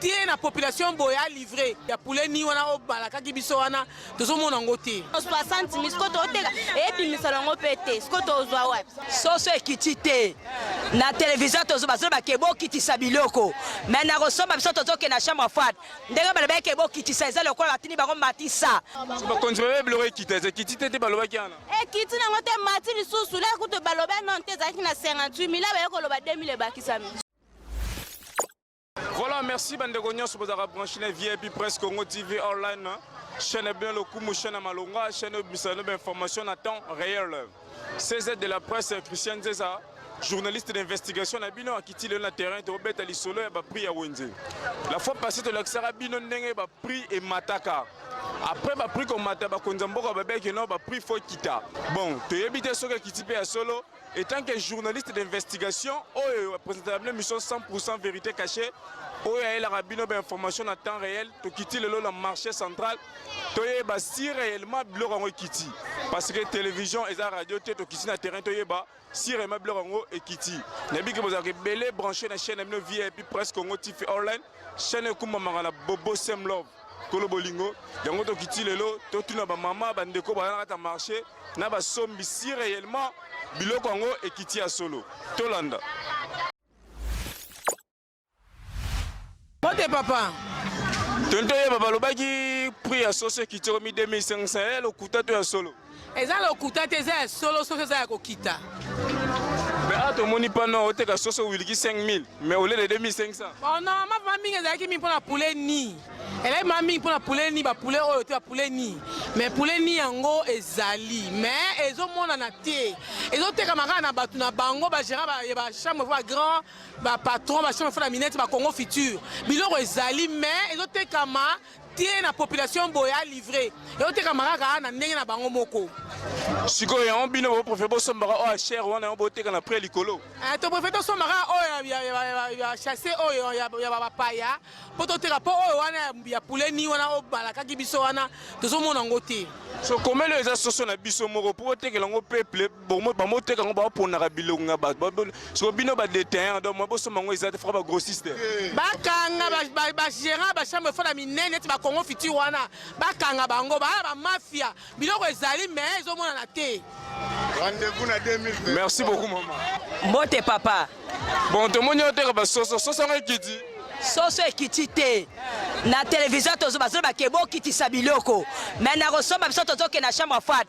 te na population boye a livre ya poulet ni wana obalakaki biso wana tozomona yango te 60 mi siko toteka ebimisa yango mpe te siko tozwa wapi soso ekiti te na televizio bazolo bake bokitisa biloko me na kosomba biso tozoke na chambre froide ndenge balobaki ke bokitisa eza lokola batini bango matisa bakonzi babe biloko ekita eza ekiti te te balobaki wana ekiti nango te mati lisusu lea kutu baloba non te ezalaki na 58 mila baye koloba 2000 ebakisami Voilà, merci bandeko nyonso bozalaka branche na VIP Presse Congo TV online chaîne bien lokumu chaîne malonga chaîne ebimisa no information na temps réel. CZ de la presse Christian Zeza journaliste d'investigation na bino akiti lelo na terrain tobeta lisolo ya baprix ya wenze la fois passé tolakisaka bino ndenge baprix emataka après baprix komata bakonzi ya mboka babeki no baprix fo ekita bon toyebi te soki ekiti mpe ya solo Etant que journaliste d'investigation, oyo presentaka bino mission 100% verite cachée, oyo ayelaka bino ba information na temps réel, tokiti lelo na marché central, toyeba si réellement biloko yango ekiti. Parce que télévision eza radio te, tokiti na terrain toyeba si réellement biloko yango ekiti. Nayebi ke bozalaka ebele branché na chaîne na bino VIP Presse Congo TV Online, chaîne ekumbamaka na Bobo Sem Love. kolo bolingo yango tokiti lelo totuna bamama bandeko baza na kati ya marché na basombi si réellement biloko yango ekiti ya solo tolanda mbote papa tonto yeba balobaki prix ya soso ekiti okomi 2500 lokuta to ya solo eza lokuta te eza ya solo soso eza ya kokita mais awa tomoni pano oteka soso wiliki 5000 mais au lieu de 2500 oh non ma mama mingi ezalaki mingi mpona poulet ni eleki mama mingi mpona poulet ni bapoulet oyo te bapoulet ni mais poulet ni yango ezali mais ezomonana te ezotekama kaka na bato na bango bagérant ya bachambre fo bagrand bapatron bachambre fo na minete bacongo future biloko ezali mais ezotekama ti ye na population boye a livre eotekama kaka na ndenge na bango moko sikoyo yango bino bo préfère bosombaka oyo ya chere wana yango boteka na prix likolo Eh, to préfère tosombaka oyo ya- ya- ya- ya- ya chasse oyo ya ya bapaya mpo toteka mpo oyo wana ya- ya puleni wana oyo balakaki biso wana tozomona yango te so komeli oyo eza soso na biso moko mpo otekela yango peuple Bongo bango teka ngo ba ponaka biloko nga ba siko bino ba détaillant donc mabo soma ngo ezate fera ba grossiste. Bakanga ba ba gérant ba chambre fera minene neti ba Congo futur wana bakanga bango ba ba mafia biloko ezali mais ezo mona na te. Rendez-vous na 2020. Merci beaucoup maman. Mbote papa. Bon tomoni oteka ba soso soso ngo ekiti. soso ekiti te na televizio bazoloba ke bokitisa biloko me nakosomba biso tozokende na chambre fat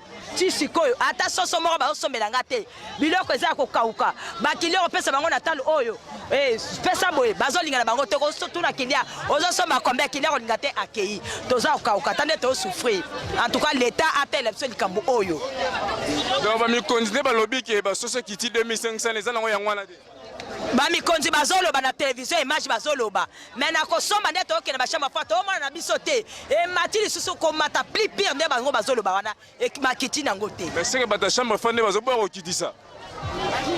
ti sikoyo ata soso moko bazosombela nga te biloko eza ya kokauka bakili okopesa bango na talo oyo eh, pesa boye bazolinga na bango te kotuna kilia ozosomba kombe kilia kolinga te akei toza kokauka ata nde tozosouffrir en tout cas leta atela biso likambo oyo donc bamikonzi nde balobi ke basoso kiti 2500 eza nango yango wana te ba mikonzi bazoloba na television image bazoloba mais na kosomba nde tookende bashamba fwa toomona na biso te emati lisusu komata plus pire nde bango bazoloba wana makiti nango te eseke bata chambre fwa nde bazoboya kokitisa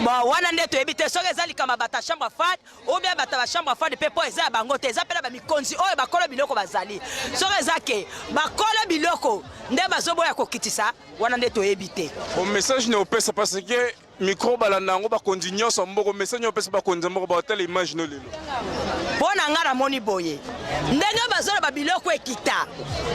bon wana nde toyebi te soki eza likambo ya bata chambre fade ou bien bata bachambre fade mpe mpo eza ya bango te eza mpe na bamikonzi oyo bakolo biloko bazali soki eza ke bakolo biloko nde bazoboya kokitisa wana nde toyebi te bon message na opesa parce que Micro balanda yango bakonzi nyonso ya mboko message nyo pesi bakonzi ya mboko baotala image no lelo mpo na ngai namoni boye ndenge bazoloba biloko ekita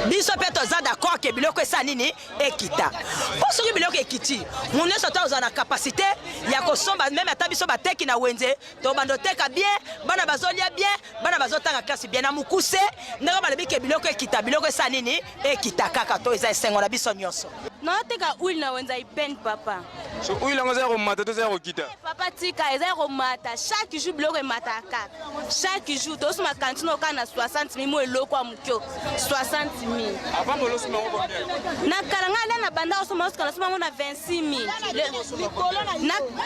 biso mpe toza d'accord ke biloko esala nini ekita mpo soki biloko ekiti moneso ata ozala na kapasite ya kosomba meme ata biso bateki na wenze tobanda oteka bien bana bazolia bien bana bazotanga klase bien na mokuse ndenge balobi ke biloko ekita biloko esa nini ekita kaka to eza esengo na biso nyonso naoteka huile na wenza ipene papa so huile yango eza ya komata to eza ya kokita eh, papa tika eza ya komata chaque jour biloko emataka kaka chaque jour tosi makanti na okana na 60 mil mo eloko ya mokio 60 mil na kala ngai alia na banda osoma osukana osoma yango na 26 mil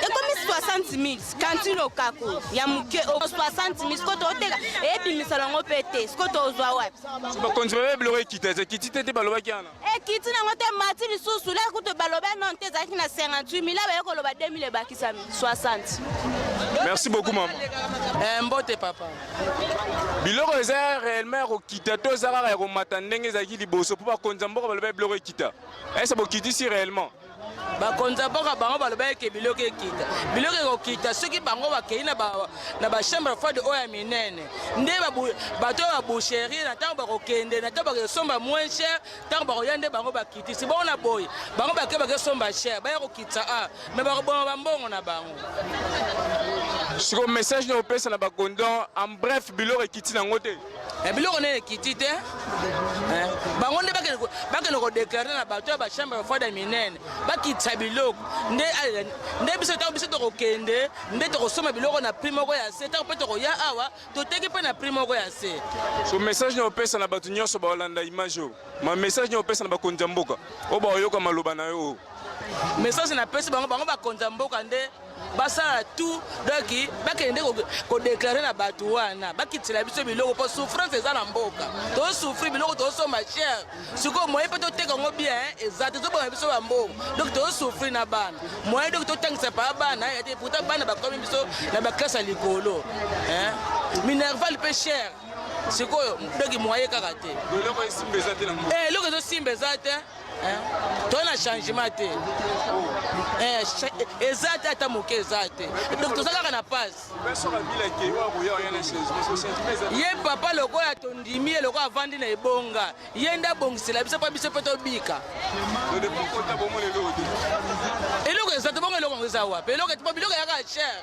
ekomi 60 mil kanti lokaku ya moke 60 mi sikoyo toteka ebimisa nango mpe te sikoyo tozwa wapi bakonzi babe biloko ekita eza ekiti te te balobaki wana ekiti nango te mati lisusu leka kutu baloba non te ezalaki na 58 mila baye koloba 2000 ebakisami 60 merci beaucoup mama eh, mbote papa biloko eza réellement ya kokita to eza kaka ya komata ndenge ezalaki liboso mpo bakonzi ya mboka baloba biloko ekita ese bokitisi réellement bakonzi ya mboka bango balobaki ke biloko ekita biloko ekokita soki bango bakei na bachambre froide oyo ya minene nde bato ya baboucherie na ntango bakokende na ntango bakesomba moins cher ntango bakoya nde bango bakitisi bongo na boye bango bake bakesomba cher baya kokitisa a me bakoboma bambongo na bango siko message na opesa na bakondon en bref biloko ekiti nango te Eh, biloko nene ekiti te eh, bango nde bakende kodeklare na bato ya bachambre fada minene bakitisa biloko nde eh, biso ntango biso tokokende nde tokosomba biloko na prix moko ya se ntango mpe tokoya awa toteki mpe na prix moko ya se so message na opesa na bato nyonso baolanda image oyo ma message na opesa na bakonzi ya mboka oyo baoyoka maloba na yo message napesi bango bango bakonzi ya mboka nde basala tout donc bakende kodeclare na bato wana bakitela biso biloko mpo souffrance eza na mboka tosouffri biloko tosomba chere sikoyo moye mpe toteka yango bien eza te tobonga biso bambongo donc tosouffri na bana moye donc totangisa paa bana ya te pourtant bana bakomi biso na baklasse ya likolo minerval mpe chere sikoyo donc moye kaka te eloko ezosimba eza te to na changement te eh, eh, eza te ata moke eza te donc toza kaka na pase ye papa lokola tondimi ye lokola avandi na ebonga ye nde abongisela biso mpo biso mpe tobika eloko eza te bongo eloko yango eza wapi eloko biloko yaka cher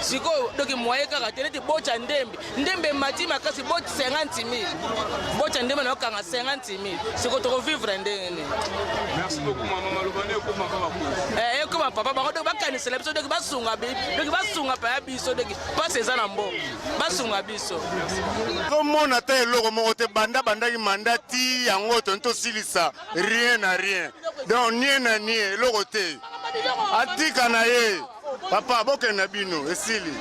sikoyo doki moye kaka te neti bocha ndembe ndembe emati makasi bot 50 mil bocha ndembe naokanga 50 mil sikoyo tokovivre ndenge nini eh, ekoma papa bango doki bakanisela biso doki basunga doki basunga paya biso doki mpasi eza na mboka basunga biso tomona ata eloko moko te banda bandaki manda ti yango toni tosilisa rien na rien donc nie na nie eloko te Atika na ye. Papa bokende na bino esili.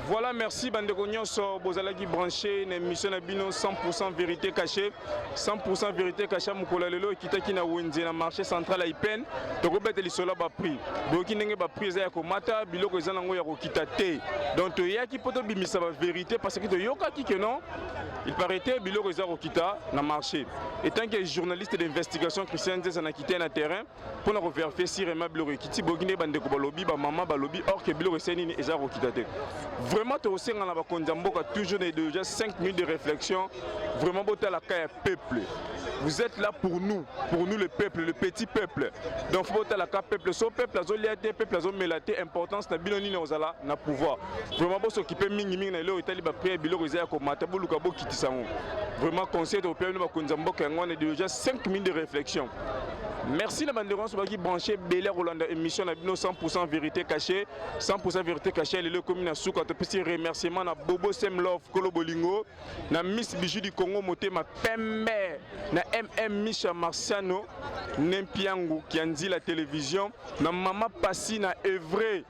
Voilà, merci bandeko nyonso bozalaki branché na émission na bino 100% vérité cachée. 100% vérité cachée mokolo ya lelo ekitaki na Wenze na marché central ya Ipène. Tokobeta lisolo ba prix. Boyoki ndenge ba prix eza ya komata, biloko eza nango ya kokita te. Donc toyaki mpo tobimisa ba vérité parce que toyokaki que non Il paraît que biloko eza kokita na marché. Étant que journaliste d'investigation Christian Zeza na quitté na terrain pour na vérifier si vraiment biloko ekiti bokinde bande ko balobi ba maman balobi or que biloko c'est nini eza kokita te. Vraiment to senga na ba konza mboka toujours de déjà 5 minutes de réflexion vraiment bota la cas peuple. Vous êtes là pour nous, pour nous le peuple, le petit peuple. Donc faut bota la cas peuple, so peuple azo liate, peuple azo melate, importance na bino nini ozala na pouvoir. vraiment bo s'occuper mingi mingi na eloko etali ba prière biloko eza ya komata boluka bokitisa yango vraiment conseil tokopea bino bakonzi ya mboka yango wana ideologie 5 minutes de réflexion merci na bandeko nyonso baki branche ebele ya kolanda émission na bino 100 vérité caché 100 vérité caché lelo ekomi na suka topesi remerciement na bobo sem love kolo bolingo na miss bijou du congo motema pembe na mm misha marciano nempiangu kianzila télévision na mama pasi na evre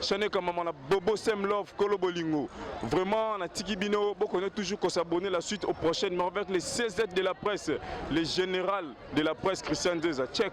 Shane Kamama na Bobo Sem Love Kolo Bolingo. Vraiment, na tiki bino, boko ne toujours qu'on s'abonner la suite au prochain numéro avec les CZ de la presse, les général de la presse Christian Deza. Check.